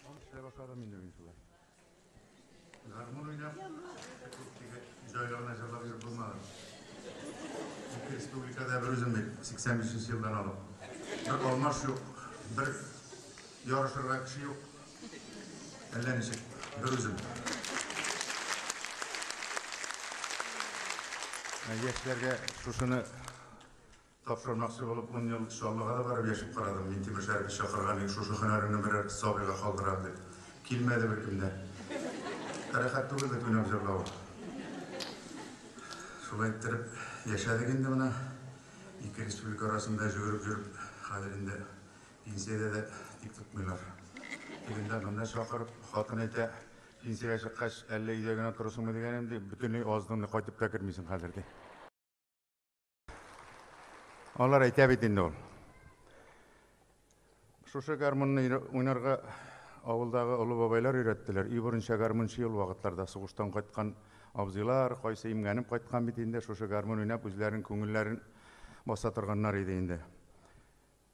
Он эшләп башладым инде мин шулай. Гармун уйнап, җайларына җырлап йөреп булмады. Ике республикада бер үзем бит, 85 елдан алып. Бер алмаш юк, бер ярышырга кеше юк. Әллә ничек, бер үзем. Яшьләргә шушыны Тапшырмакчы булып ун ел Чаллыга да барып яшәп карадым. Минтимер Шәрипне чакырган идек, шушы һөнәреңне берәр сабыйга калдырам дип. Килмәде беркем дә. Ә рәхәт түгел бит уйнап җырлавы. Шулай иттереп яшәдек инде менә. Ике республика арасында җөгереп йөреп, хәзер инде пенсиядә дә тик тотмыйлар. Тегендә, монда чакырып, хатын әйтә, Пенсиягә чыккач, әллә өйдә генә торырсыңмы дигәнем, ди, бөтенләй азның да кайтып та кермисең хәзер, ди. Алар әйтә бит инде ул. Шушы гармунны уйнарга авылдагы олы бабайлар өйрәттеләр. Өй борынча гармунчы ел вакытларда сугыштан кайткан абзыйлар, кайсы имгәнеп кайткан бит инде, шушы гармун уйнап үзләрен күңелләрен баса торганнар иде инде.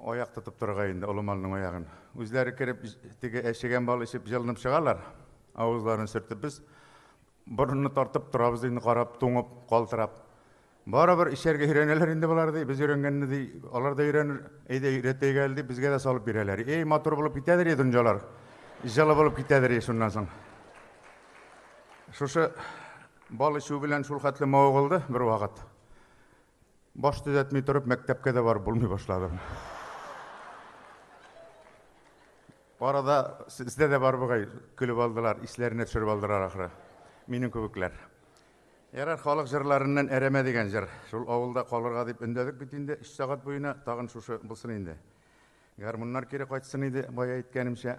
Аяк тотып торырга инде олы малның аягын. Үзләре кереп, теге әчегән бал эчеп, җылынып чыгалар. Авызларын сөртеп, без борынны тартып торабыз инде, карап, туңып, калтырап. Барыбер эчәргә өйрәнәләр инде болар, ди, без өйрәнгәнне, ди, алар да өйрәнер, әйдә, өйрәтәйек әле, дип, безгә дә салып бирәләр. Эй, матур булып китәдер, дөньялар, җылы булып китәдер, шуннан соң. Шушы бал эчү белән шул хәтле мавыгылды бервакыт. Баш төзәтми торып, мәктәпкә дә барып булмый башладым. Арада сездә дә бар бугай, көлеп алдылар, исләренә төшереп алдылар ахры. Минем кебекләр. Ярар, халык җырларыннан әрәмә дигән җыр. Шул авылда калырга дип өндәдек бит инде 3 сәгать буена, тагын шушы булсын инде. Гармуннар кире кайтсын иде, бая әйткәнемчә.